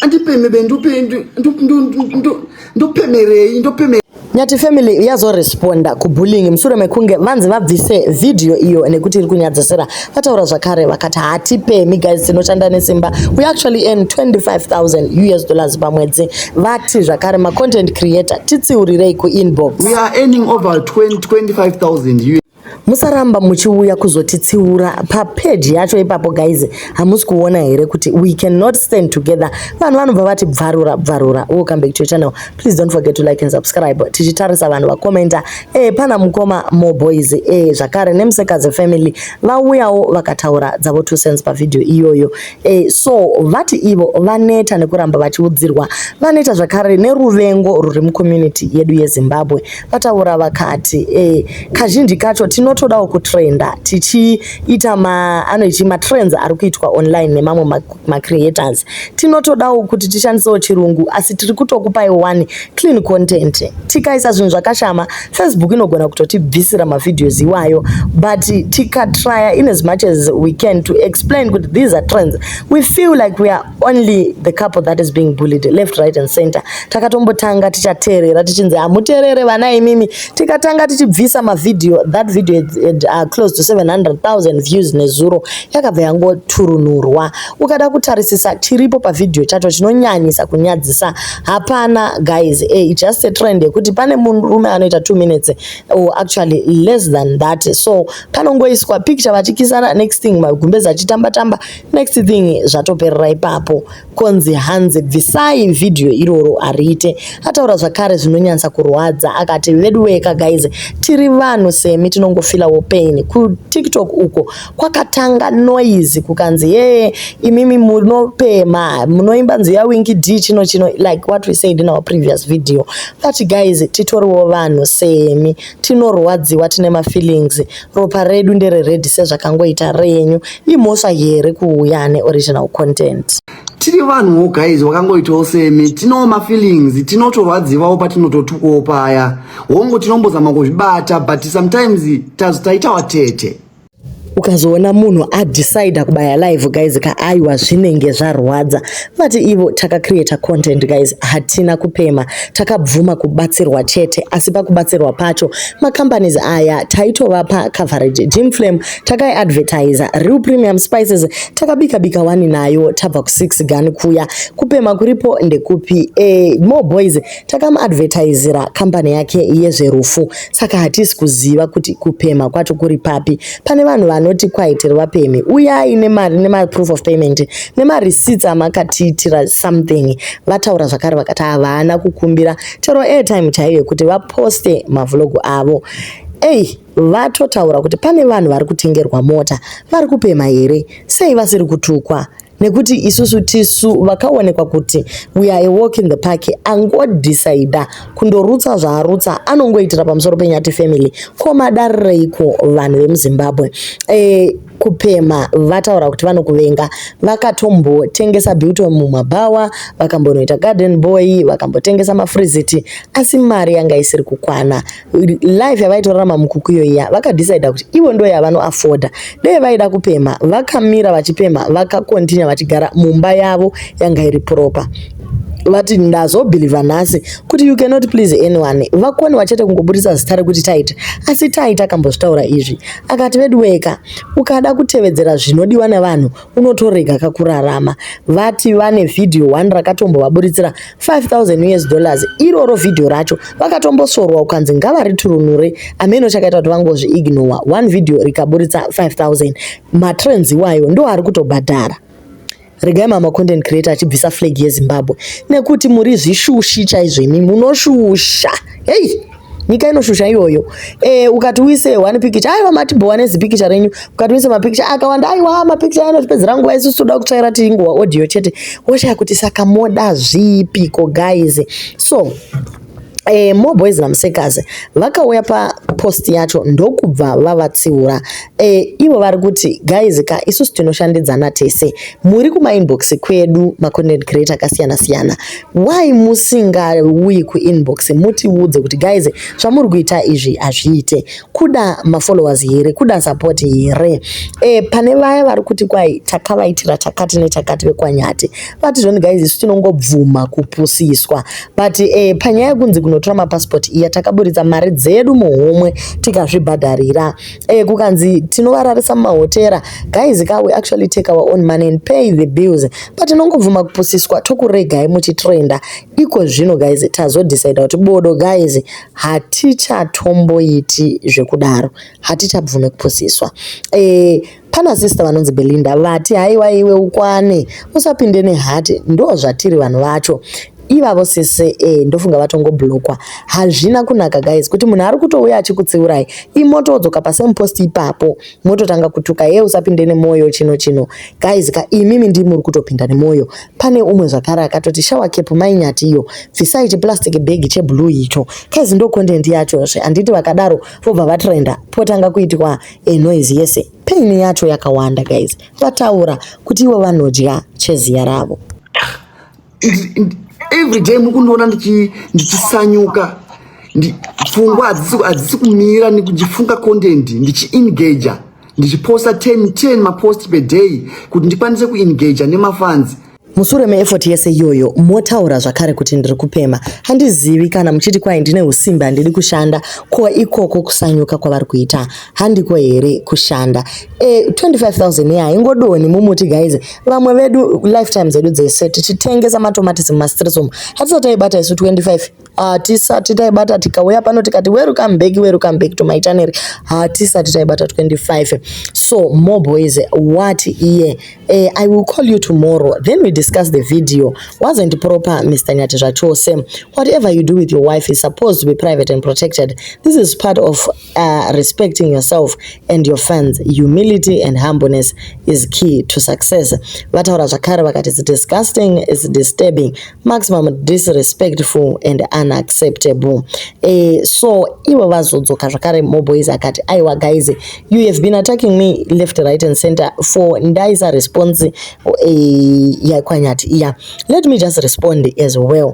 andipemebe ndopemerei ndopeme nyati family yazoresponda kubullying mushure mekunge vanzi vabvise vhidhiyo iyo nekuti iri kunyadzisira vataura zvakare vakati hatipemi guys tinoshanda nesimba we actually earn 25000 us dollars pamwedzi vati zvakare macontent creator titsiurirei kuinbox we are earning over 25000 musaramba muchiuya kuzotitsiura papeji yacho ipapo guys hamusi kuona here kuti we cannot stand together vanhu vanobva vati bvarura bvarura welcome back to your channel please don't forget to like and subscribe tichitarisa vanhu vakomenta eh pana mukoma more boys eh zvakare nemusekadzi family vauyawo vakataura dzavo two cents pavideo iyoyo E, so vati ivo vaneta nekuramba vachiudzirwa vaneta zvakare neruvengo ruri mucommunity yedu yezimbabwe vataura vakati e, kazhinji kacho tinotodawo kutrenda tichiita maanoiti matrends ari kuitwa online nemamwe macreators tinotodawo kuti tishandisewo chirungu asi tiri kutokupai wani clean content tikaisa zvinhu zvakashama facebook inogona kutotibvisira mavideos iwayo but tikatrya in as much as we can to explain kuti these are trends we feel like we are only the couple that is being bullied left right and center takatombotanga tichateerera tichinzi hamuteerere vana imimi tikatanga tichibvisa mavideo that video had, had, uh, close to 700000 views nezuro yakabva yangoturunurwa ukada kutarisisa chiripo pavideo chacho chinonyanyisa kunyadzisa hapana guys eh, it's just a trend yekuti pane murume anoita 2 minutes or actually less than that so panongoiswa picture vachikisana next thing magumbezi achitamba tamba next thing zvatoperera ipapo konzi hanzi bvisai video iroro ariite ataura zvakare zvinonyanyisa kurwadza akati veduweka guys tiri vanhu semi tinongofilawo pain kutiktok uko kwakatanga noise kukanzi hee imimi munopema munoimba nzi yawinki d chino chino like what we said in our previous video but guys titoriwo vanhu semi tinorwadziwa tine mafeelings ropa redu ndere red sezvakangoita renyu imhosva here kuuya ane original content tiri vanhuwo guys wakangoitawo semi tinowo mafeelings tinotorwadzivawo patinototukawo paya hongu tinombozama kuzvibata but sometimes tazotaita watete ukazoona munhu adecide kubaya live guys ka aiwa zvinenge zvarwadza vati ivo takacreata content guys hatina kupema takabvuma kubatsirwa chete asi pakubatsirwa pacho macompanies aya taitovapa coverage jim flame takaiadvertiser real premium spices takabika bika wani nayo tabva ku6 gani kuya kupema kuripo ndekupi e, more boys takamuadvertisira kambani yake yezverufu saka hatisi kuziva kuti kupemha kwacho kuri papi pane vanhu vanoti kwaitirwa pemhi uyai nemari nemaproof of payment nemarecits amakatiitira something vataura zvakare vakati havana kukumbira chero airtime chaiyo yekuti vaposte mavlogu avo ei vatotaura kuti pane vanhu vari kutengerwa mota vari kupemha here sei vasiri kutukwa nekuti isusu tisu vakaonekwa kuti we are a walk in the park angodhisaida kundorutsa zvaarutsa anongoitira pamusoro penyati family ko madarireiko vanhu vemuzimbabwe e, kupemha vataura kuti vanokuvenga vakatombotengesa beauty mumabhawa vakambonoita garden boy vakambotengesa mafriziti asi mari yanga isiri kukwana life yavaitorarama mukuku iyoiya vakadecida kuti ivo ndo yavanoafoda dei vaida kupemha vakamira vachipemha vakakontinya vachigara mumba yavo yanga iri proper vati ndazobhilivha nhasi kuti you cannot please anyone vakoni vachete kungoburitsa zita rekuti taita asi taita akambozvitaura izvi akati veduweka ukada kutevedzera zvinodiwa nevanhu unotorega kakurarama vati vane vhidhiyo one rakatombovaburitsira 5000 us dollars iroro vhidhiyo racho vakatombosvorwa ukanzi ngavariturunure ameno chakaita kuti vangozviignowa one vhidhiyo rikaburitsa 5000 matrends iwayo ndo ari kutobhadhara regai mama content creator achibvisa flag yezimbabwe nekuti muri zvishushi chaizvo imi munoshusha hei nyika inoshusha iyoyo e, ukati uise one picture aiwa matibhowa nezipikicha renyu ukati uise mapikicha akawanda aiwa mapikicha anotipedzera nguva isusu toda kutsvaira tiri nguva audio chete woshaya kuti saka moda zvipiko guys so eh, more boys namusekazi vakauya papost yacho ndokubva vavatsiura eh, ivo vari kuti guys ka isusu tinoshandidzana tese muri kumainbox kwedu macontent creator akasiyana siyana why musingauyi kuinbox mutiudze kuti guys zvamuri kuita izvi hazviite kuda mafollowers here kuda support here e, pane vaya vari kuti kwai takavaitira takati netakati vekwanyati vati zvoni guys isu tinongobvuma kupusiswa but e, panyaya yekunzi kunotora mapassport iya takaburitsa mari dzedu muhomwe tikazvibhadharira eh, kukanzi tinovararisa mumahotera guys ka we actually take our own money and pay the bills but tinongobvuma kupusiswa tokuregai muchitrenda iko zvino guys tazodecida kuti bodo guys hatichatomboiti zvekudaro hatichabvume kupusiswa eh, pana sister vanonzi belinda vati haiwa iwe ukwane usapinde nehati ndo zvatiri vanhu vacho ivavo sese e ndofunga vatongoblokwa hazvina kunaka guys kuti munhu ari kutouya achikutsiurai imotodzoka pasame post ipapo mototanga kutuka ye usapinde nemwoyo chino chino guys ka imimi ndi muri kutopinda nemwoyo pane umwe zvakare akatoti shawa kepu mainyati iyo bvisai chiplastic bag cheblue icho guys ndo content yachozve handiti vakadaro vobva vatrenda potanga kuitwa e noise yese pain yacho yakawanda guys vataura kuti ivo vanodya cheziya ravo every day mukundiona ndichisanyuka pfungwa hadzisi kumira ndichifunga content ndichiengager ndichiposta 10 10 mapost per day kuti ndikwanise kuengager nemafanzi musure meefort yese iyoyo motaura zvakare kuti ndiri kupema handizivi kana muchiti kwai ndine usimbe handidi kushanda ko ikoko kusanyuka kwavari kuita handiko here kushanda e, 25000 iya ingodoni mumuti guys vamwe vedu lifetime dzedu dzese tichitengesa matomatisi mumastreets umu hatisati taibata isu 25 hatisati taibata tikauya pano tikati welcome back welcome back to my channel hatisati taibata 25 so more boys what iye e, i will call you tomorrow then we discuss the video wasn't proper mr nyati zvachose whatever you do with your wife is supposed to be private and protected this is part of uh, respecting yourself and your fans humility and humbleness is key to success vataura zvakare vakati it's disgusting it's disturbing maximum disrespectful and unacceptable e, so ivo vazodzoka zvakare moboys akati aiwa guys you have been attacking me left right and center for ndaisa response e, eh, yakwanyati iya let me just respond as well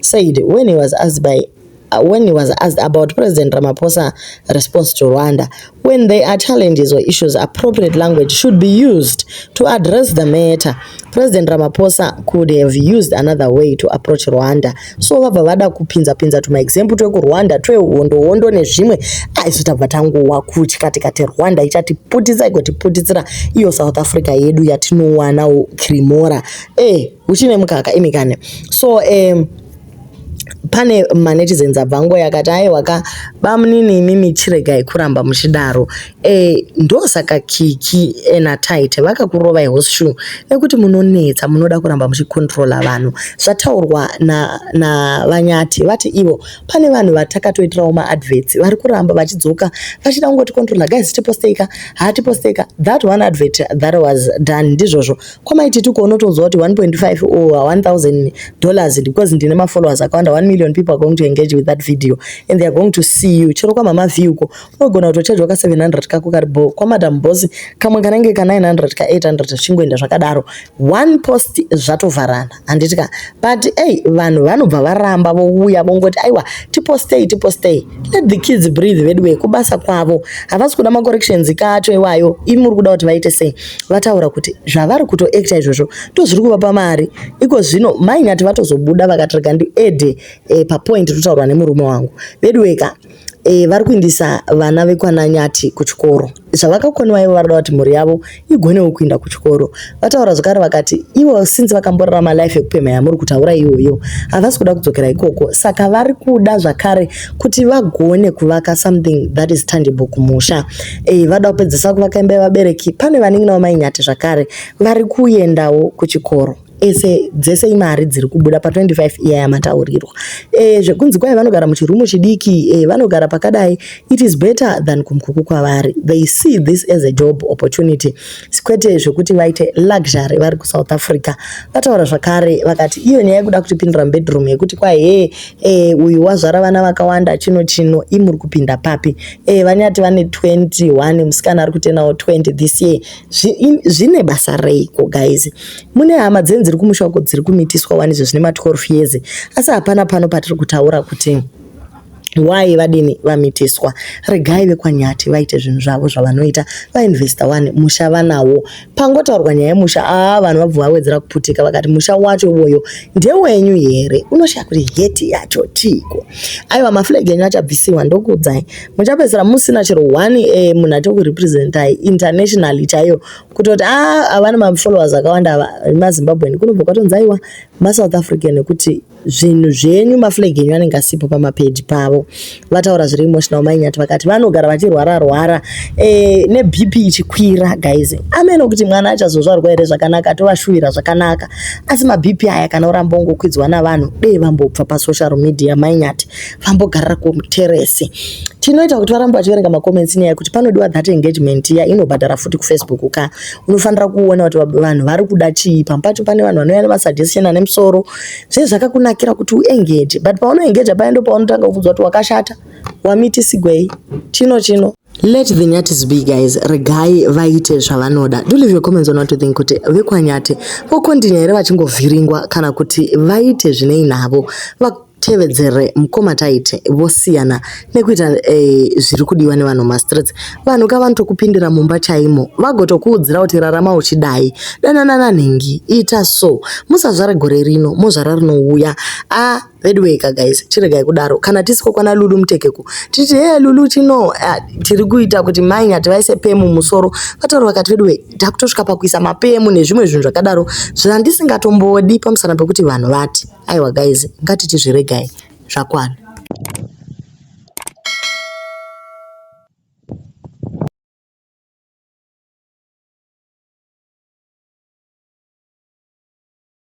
said when he was asked by uh, when he was asked about President Ramaphosa response to Rwanda, when there are challenges or issues, appropriate language should be used to address the matter. President Ramaphosa could have used another way to approach Rwanda. So vabva vada kupinza pinza tuma example tweku Rwanda twe hondo hondo nezvimwe aizo ah, tabva tanguwa kuchi kati kati Rwanda ichati putisa igoti putitsira iyo South Africa yedu yatinowana krimora eh uchine mukaka imi kane so um, pane manetizens abva nguva yakati aiwa ka bamunini imimi chiregai kuramba muchidaro e, ndosaka kiki ena tight vakakurovai horseshoe nekuti munonetsa munoda kuramba muchikontrola vanhu zvataurwa navanyati na vati ivo pane vanhu vatakatoitirawo maadverts vari kuramba vachidzoka vachida kungoti controla guys tiposteika haatiposteika that one advert that was done ndizvozvo kwamai tituko unotonzwa kuti 1.5 or 1000 dollars because ndine mafollowers akawanda 1 million people are going to engage with that video and they are going to see you chero kwamama view ko unogona kutochajwa ka 700 kako kari bho kwamadam boss kamwe kanenge ka 900 ka 800 zvichingoenda zvakadaro one post zvatovharana handiti ka but ei vanhu vanobva varamba vouya vongoti aiwa tipostei tipostei let the kids breathe veduwe kubasa kwavo havasi kuda macorrections kacho iwayo imi muri kuda kuti vaite sei vataura kuti zvavari kutoacta izvozvo ndozviri kuvapa mari iko zvino mainati vatozobuda vakatirega ndiede eh, papoint totaurwa nemurume wangu veduweka e, vari kuindisa vana vekwana nyati kuchikoro zvavakakoniwa ivo varada kuti mhuri yavo igonewo kuinda kuchikoro vataura zvakare vakati ivo since vakamborarama life yekupemha yamuri kutaura iyoyo havasi kuda kudzokera ikoko saka vari kuda zvakare kuti vagone kuvaka something that is tangible kumusha e, vada kupedzesa kuvaka imba yevabereki pane vanin'ina vamainyati zvakare vari kuendawo kuchikoro ese dzese imari dziri kubuda pa 25 iya yamataurirwa e, zvekunzi kwai vanogara muchirumu chidiki e, vanogara pakadai it is better than kumkuku kwavari they see this as a job opportunity kwete zvekuti vaite luxury vari kusouth africa vataura zvakare vakati iyo nyaya yekuda kutipindira mubedroom yekuti kwai he e, uyu wazvara vana vakawanda chino chino imuri kupinda papi e, vanyati vane 21 musikana ari kutenawo 20 this year zvine basa reiko guys mune hama dzenyu dziri kumusha uko dziri kumitiswa wani izvo zvine ma 12 years asi hapana pano patiri kutaura kuti why vadini vamitiswa regai vekwanyati vaite zvinhu zvavo zvavanoita vainvesta wani musha vanawo pangotaurwa nyaya yemusha aa vanhu vabva vawedzera kuputika vakati musha wacho iwoyo ndewenyu here unoshaya kuti heti yacho tiiko aiwa maflag enyu achabvisiwa ndokuudzai muchapedzisira musina chero one eh, munhu ati kurepresentai internationally chaiyo kutoti a ah, avana mafollowers akawanda ava mazimbabwean kunobva kwatonzi aiwa masouth african nekuti zvinhu zvenyu maflag enyu anenge asipo pamapeji pavo vataura zviri emotional mainyati vakati vanogara vachirwara rwara eh, nebp ichikwira guys ameno kuti mwana achazozvarwa here zvakanaka atovashuvira zvakanaka asi mabp aya kana uramba ungokwidzwa navanhu dei vambobva pasocial media mainyati vambogarira kuteresi tinoita kuti varambe vachiverenga macomments nyaya yekuti panodiwa that engagement iya inobhadhara futi kufacebook ka unofanira kuona kuti vanhu vari kuda chii pamwe pacho pane vanhu vanouya nemasuggestion ane musoro zvee zvakakunakira kuti uengage but paunoengaja paya ndo paunotanga kubvunzwa kuti wakashata wamitisigwei chino chino let the nyatis be guys regai vaite zvavanoda do leave your comments on what you think kuti vekwanyati vokondinya here vachingovhiringwa kana kuti vaite zvinei navo Tevedzere mkoma Tyte vosiyana nekuita eh, zviri kudiwa nevanhu mumastreets. Vanhu ka vanotokupindira mumba chaimo vagotokuudzira kuti rarama uchidai, danana nanhingi, ita so, musazvare gore rino mozvara rinouya. Ah, veduwee ka guys, chiregai kudaro. Kana tisiko kwana Lulu Mutekeku titi hee Lulu chino ah, tiri kuita kuti mai Nyati vaise pemu musoro. Vataura vakati veduwee takutosvika pakuisa mapemu nezvimwe zvinhu zvakadaro zvandisingatomboodi pamusana pekuti vanhu vati. Aiwa guys, ngatiti zviregai zvakwana.